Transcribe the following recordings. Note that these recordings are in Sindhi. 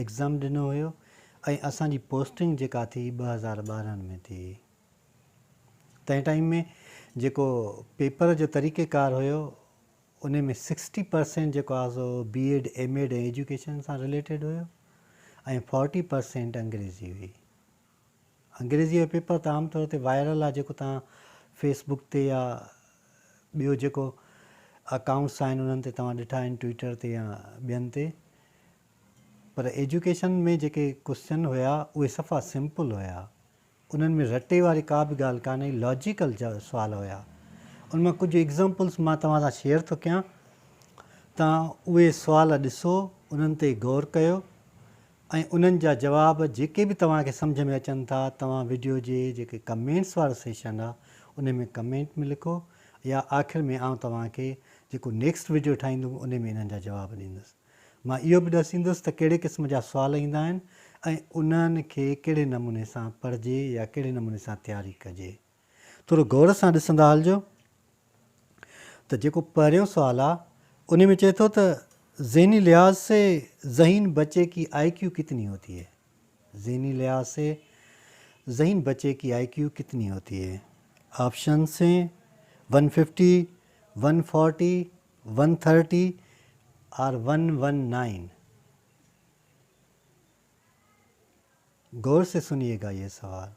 ايگزام ڏنو هيو ۽ اسان جي پوسٽنگ جيڪا ٿي ٻه هزار ٻارهن ۾ ٿي تنهن ٽائيم ۾ جيڪو پيپر جو طريقي ڪار هيو انهي ۾ سڪسٽي پرسينٽ جيڪو آهي سو B Ed M Ed ۽ education سان رليٽيڊ هيو ۽ فورٽي پرسينٽ انگريزي هئي انگريزيء جو پيپر ته عام طور تي وائرل آهي جيڪو توهان فيس بڪ تي يا ٻيو جيڪو اڪائونٽس آهن انهن تي توهان ڏٺا آهن ٽوئيٽر تي يا ٻين تي پر ايجوڪيشن ۾ جيڪي ڪوسچن هيا اهي صفا سمپل هيا انهن ۾ رٽي واري ڪا به ڳالهه ڪانه هئي لاجيڪل سوال هيا ان مان ڪجهه ايگزامپلس مان توهان سان شيئر ٿو ڪيان توهان اهي سوال ڏسو انهن تي غور ڪيو ۽ انهن جا جواب جيڪي به توهان کي سمجهه ۾ اچن ٿا توهان وڊيو جي جيڪي ڪمينٽس وارو سيشن آ انهي ۾ ڪمينٽ ۾ لکو يا آخر ۾ آئون توهان کي جيڪو نيڪسٽ وڊيو ٺاهيندم انهي ۾ انهن جا جواب ڏيندس مان اهو به ڏسيندس ته ڪهڙي قسم جا سوال ايندا آهن ۽ انهن کي ڪهڙي نموني سان پڙهجي يا ڪهڙي نموني سان تياري ڪجي. ٿورو غور سان ڏسندا هلجو ته جيڪو پهريون سوال آ انهي ۾ چئي ٿو ته ذهني لحاظ سي ذهين بچي ڪي آئي ڪيو ڪتني هوتي هي ذهني لحاظ سي ذهين بچي ڪي آئي ڪيو ڪتني هوتي هي option C one fifty one forty one thirty or one one nine غور سي سنيئي گا يه سوال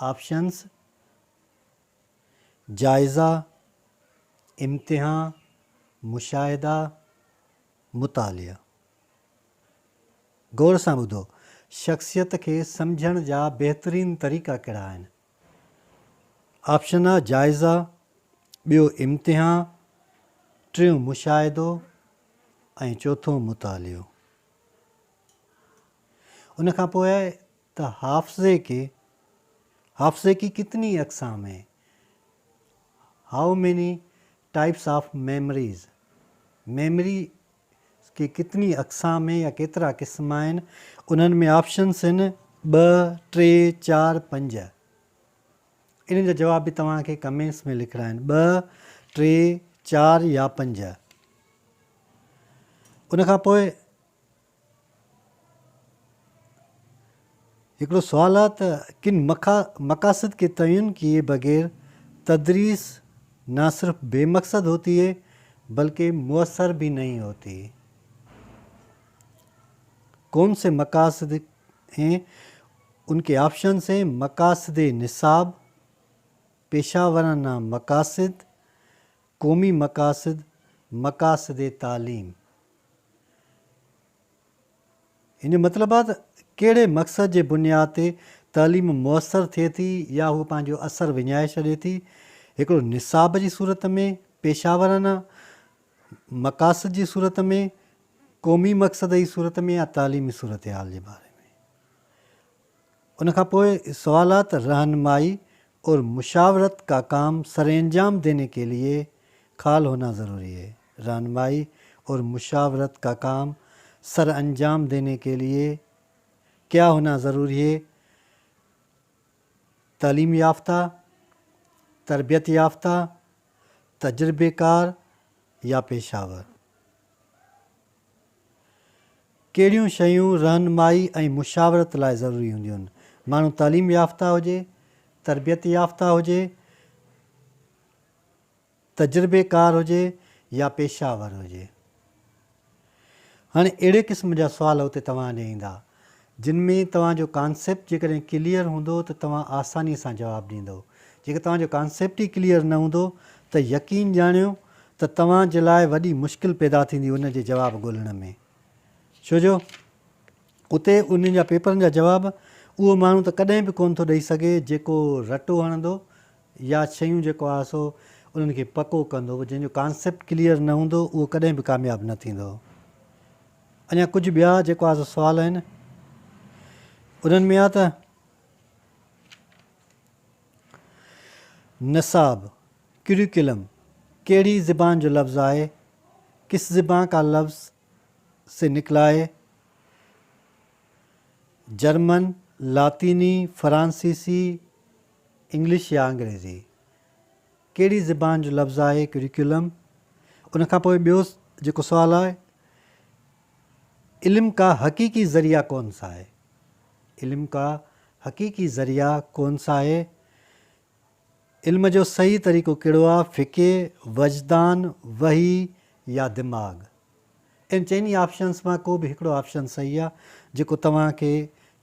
آپشنز، جائزا، امتحا، مشاهدا، مطالعا. غور سان ٻڌو، شخصيت کي سمجهڻ جا بهترين طريقا ڪهڙا آهن؟ آپشنا، جائزا، ٻيو امتحا، ٽيون مشاهدو ۽ چوٿون مطالعو. ان کان پوء ته حافظي ڪي حافظي ڪي ڪتني اقسام هين How many types of memories memory ڪي ڪتني اقسام هين يا ڪيترا قسم آهن انهن ۾ آپشنس هين ٻه، ٽي، چار، پنج انهن جا جواب به توهان کي ڪمينٽس ۾ لکڻا آهن ٻه، ٽي، چار يا پنج ان کان پوء هڪڙو سوال آهي ته ڪن مقاصد ڪي تعين ڪيي بغير تدريس نه صرف بي مقصد هوتي هي بلڪه موثر به نهين هوتي هي. ڪون سي مقاصد هين ان ڪي آپشنس هين، مقاصد نصاب، پيشه ورانه مقاصد، قومي مقاصد، مقاصد تعليم. ان جو مطلب آهي ته ڪهڙي مقصد جي بنياد تي تعليم موثر ٿئي ٿي يا هوء پنهنجو اثر وڃائي ڇڏي ٿي، هڪڙو نصاب جي صورت ۾، پيشه ورانه مقاصد جي صورت ۾، قومي مقصد جي صورت ۾ يا تعليمي صورتحال جي باري ۾. ان کان پوء سوالات رهنمائي اور مشاورت کا ڪام سرانجام ديني ڪي ليي خال هونا ضروري هي رهنمائي اور مشاورت کا ڪام سرانجام ديني ڪي ليي ڪيا هونا ضروري هي تعليم يافته تربيت يافته تجربه ڪار يا پيشه ور. ڪهڙيون شيون رهنمائي ۽ مشاورت لاء ضروري هونديون؟ ماڻهو تعليم يافته هجي، تربيت يافته هجي، تجربيڪار هجي يا پيشه ور هجي. هاڻي اهڙي قسم جا سوال اتي توهان ڏي ايندا. جن ۾ توهان جو ڪانسيپٽ جيڪڏهن ڪليئر هوندو ته توهان آساني سان جواب ڏيندو. جيڪڏهن توهان جو ڪانسيپٽ ئي ڪليئر نه هوندو ته يقين ڄاڻيو ته توهان جي لاء وڏي مشڪل پيدا ٿيندي ان جي جواب ڳولڻ ۾. ڇو جو اتي انهن جا پيپرن جا جواب اهو ماڻهو ته ڪڏهن به ڪونه ٿو ڏئي سگهي جيڪو رٽو هڻندو يا شيون جيڪو آهي سو انهن کي پڪو ڪندو. جنهن جو ڪانسيپٽ ڪليئر نه هوندو اهو ڪڏهن به ڪامياب نه ٿيندو. اڃا ڪجهه ٻيا جيڪو آ سو سوال آهن انهن ۾ آ ته نصاب، ڪريڪولم، ڪهڙي زبان جو لفظ آهي، ڪس زبان ڪا لفظ سي نڪلا هي، جرمن، لاطيني، فرانسيسي، انگلش يا انگريزي. ڪهڙي زبان جو لفظ آهي ڪريڪولم؟ ان کان پوء ٻيو جيڪو سوال آهي علم ڪا حقيقي ذريعه ڪون سا هي؟ علم ڪا حقيقي ذريعه ڪون سا هي؟ علم جو صحيح طريقو ڪهڙو آهي فڪي، وجدان، وحي يا دماغ؟ ان چئني آپشنس مان ڪو به هڪڙو آپشن صحيح آهي جيڪو توهان کي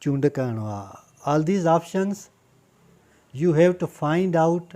چونڊ ڪرڻو آهي All these options you have to find out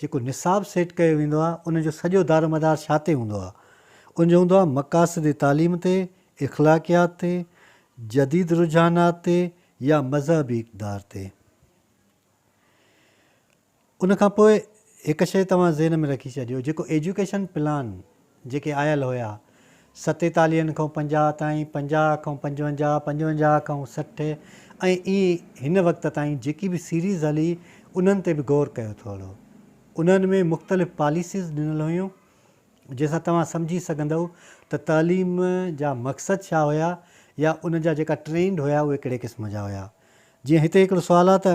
جيڪو نصاب سيٽ ڪيو ويندو آهي ان جو سڄو دارومدار ڇا تي هوندو آهي؟ ان جو هوندو آهي مقاصد تعليم تي، اخلاقيات تي، جديد رجحانات تي يا مذهبي اقدار تي. ان کان پوء هڪ شيء توهان ذهن ۾ رکي ڇڏيو جيڪو ايجوڪيشن پلان جيڪي آيل هيا، ستيتاليهن کان پنجاهه تائين، پنجاهه کان پنجونجاهه، پنجونجاهه کان سٺ ۽ ائين هن وقت تائين جيڪي به سيريز هلي انهن تي به غور ڪيو ٿو هلو. انهن ۾ مختلف پاليسيز ڏنل هيون جنهن سان توهان سمجهي سگهندؤ ته تعليم جا مقصد ڇا هيا يا ان جا جيڪا ٽرينڊ هيا اهي ڪهڙي قسم جا هيا. جيئن هتي هڪڙو سوال آ ته.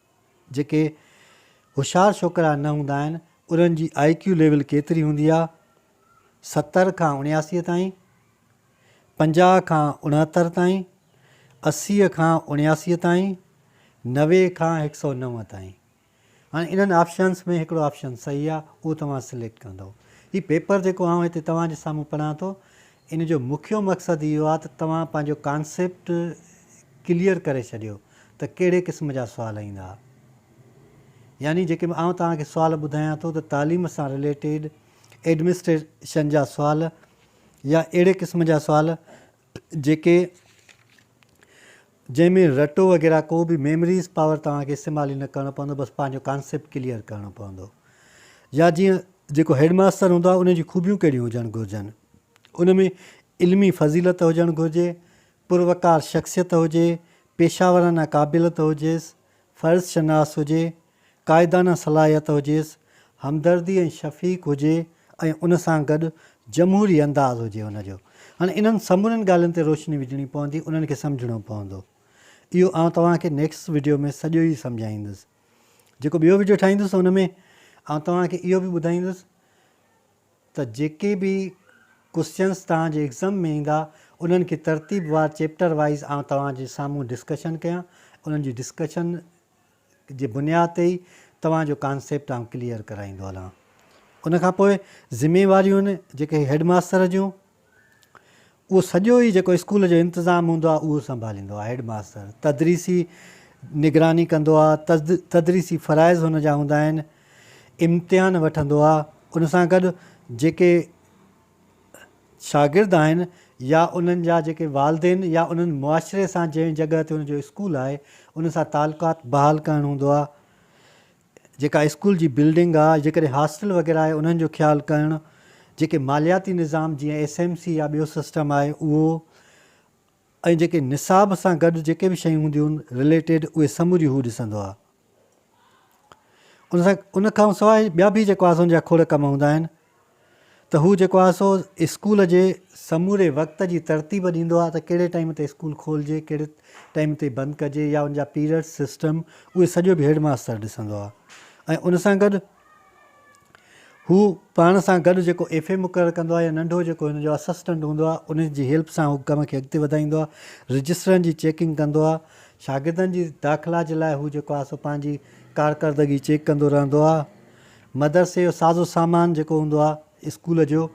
جيڪي هوشيار ڇوڪرا نه هوندا آهن انهن جي آء ڪيو ليول ڪيتري هوندي آهي ستر کان اڻياسي تائين پنجاهه کان اڻهتر تائين اسي کان اڻياسي تائين نوي کان هڪ سؤ نو تائين هاڻي انهن آپشنس ۾ هڪڙو آپشن صحيح آهي اهو توهان سليڪٽ ڪندو هي پيپر جيڪو آئون هتي توهان جي سامهون پڙهان ٿو ان جو مکيو مقصد اهو آهي ته توهان پنهنجو ڪانسيپٽ ڪليئر ڪري ڇڏيو ته ڪهڙي قسم جا سوال ايندا. يعني جيڪي آئون توهان کي سوال ٻڌايان ٿو ته تعليم سان رليٽيڊ ايڊمنسٽريشن جا سوال يا اهڙي قسم جا سوال جيڪي جنهن ۾ رٽو وغيره ڪو به ميمريز پاور توهان کي استعمال ئي نه ڪرڻو پوندو بس پنهنجو ڪانسيپٽ ڪليئر ڪرڻو پوندو يا جيئن جيڪو هيڊ ماستر هوندو آهي ان جون خوبيون ڪهڙيون هجڻ گهرجن ان ۾ علمي فضيلت هجڻ گهرجي پروقار شخصيت هجي پيشاورانه قابلت هجيس فرض شناس هجي قائدانه صلاحيت هجيس، همدردي ۽ شفيق هجي ۽ ان سان گڏ جمهوري انداز هجي هن جو. هاڻي انهن سمورين ڳالهين تي روشني وجهڻي پوندي، انهن کي سمجهڻو پوندو. اهو آئون توهان کي نيڪسٽ وڊيو ۾ سڄو ئي سمجهائيندس. جيڪو ٻيو وڊيو ٺاهيندس ان ۾ آئون توهان کي اهو به ٻڌائيندس ته جيڪي به ڪوسچنس توهان جي ايگزم ۾ ايندا انهن کي ترتيب وار چيپٽر وائيز آئون توهان جي سامهون ڊسڪشن ڪيان انهن جي ڊسڪشن جي بنياد تي ئي توهان جو ڪانسيپٽ آئون ڪليئر ڪرائيندو هلان. ان کان پوء ذميواريون جيڪي هيڊ ماستر جون اهو سڄو ئي جيڪو اسڪول جو انتظام هوندو آهي اهو سنڀاليندو آهي هيڊ ماستر تدريسي نگراني ڪندو آهي تدريسي فرائض هن جا هوندا آهن امتحان وٺندو آهي ان سان گڏ جيڪي شاگرد آهن يا انهن جا جيڪي والدين يا انهن معاشري سان جنهن جڳهه تي ان جو اسڪول آهي ان سان تعلقات بحال ڪرڻ هوندو آهي جيڪا اسڪول جي بلڊنگ آهي جيڪڏهن هاسٽل وغيره آهي انهن جو خيال ڪرڻ جيڪي مالياتي نظام جيئن ايس ايم سي يا ٻيو سسٽم آهي اهو ۽ جيڪي نصاب سان گڏ جيڪي به شيون هونديون آهن رليٽيڊ اهي سموريون هو ڏسندو آهي ان سان ان کان سواء ٻيا به جيڪو آسون جا کوڙ ڪم هوندا آهن ته هو جيڪو آهي سو اسڪول جي سموري وقت جي ترتيب ڏيندو آهي ته ڪهڙي ٽائيم تي اسڪول کولجي ڪهڙي ٽائيم تي بند ڪجي يا ان جا پيريڊ سسٽم اهي سڄو به هيڊ ماستر ڏسندو آهي ۽ ان سان گڏ هو پاڻ سان گڏ جيڪو ايف اي مقرر ڪندو آهي يا ننڍو جيڪو هن جو اسسٽنٽ هوندو آهي انهن جي هيلپ سان هو ڪم کي اڳتي وڌائيندو آهي رجسٽرن جي چيڪنگ ڪندو آهي شاگردن جي داخلا جي لاء هو جيڪو آهي سو پنهنجي ڪارڪردگي چيڪ ڪندو رهندو آهي مدرسي جو سازو سامان جيڪو هوندو آهي اسڪول جو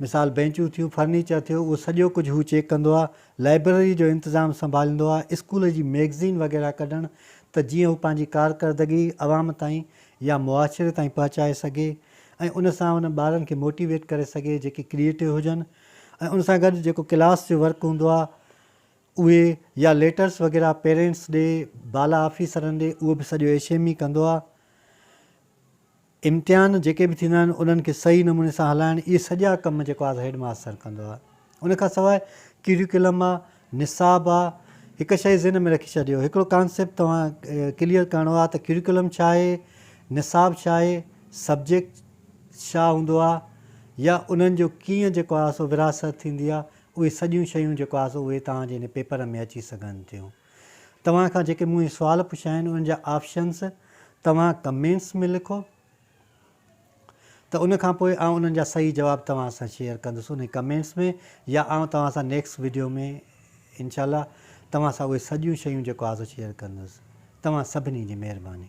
مثال بينچون ٿيون فرنيچر ٿيو اهو سڄو ڪجهه هو چيڪ ڪندو آهي لائبرري جو انتظام سنڀاليندو آهي اسڪول جي ميگزين وغيره ڪڍڻ ته جيئن هو پنهنجي ڪارڪردگي عوام تائين يا معاشري تائين پهچائي سگهي ۽ ان سان انهن ٻارن کي موٽيويٽ ڪري سگهي جيڪي ڪريئيٽو هجن ۽ ان سان گڏ جيڪو ڪلاس جو ورڪ هوندو آهي اهي يا ليٽرس وغيره پيرينٽس ڏي بالا آفيسرن ڏي اهو به سڄو ايش ايم اي ڪندو آهي امتحان جيڪي به ٿيندا آهن انهن کي صحيح نموني سان هلائڻ اهي سڄا ڪم جيڪو آهي سا هيڊ ماستر ڪندو آهي ان کان سواء ڪيريڪولم آ نصاب آ هڪ شئي ذهن ۾ رکي ڇڏيو هڪڙو ڪانسيپٽ توهان ڪليئر ڪرڻو آ ته ڪيريڪولم ڇا آهي نصاب ڇا آهي سبجيڪٽ ڇا هوندو آ يا انهن جو ڪيئن جيڪو آ سو وراثت ٿيندي آ اهي سڄيون شيون جيڪو آ سو اهي توهان جي هن پيپر ۾ اچي سگهن ٿيون توهان کان جيڪي مون هي سوال پڇيا آهن انهن جا آپشنس توهان ڪمينٽس ۾ لکو ته ان کان پوء آئون انهن جا صحيح جواب توهان سان شيئر ڪندس انهي ڪمينٽس ۾ يا آئون توهان سان نيڪسٽ وڊيو ۾ انشاء الله توهان سان اهي سڄيون شيون جيڪو آهي سو شيئر ڪندس توهان سڀني جي مهرباني.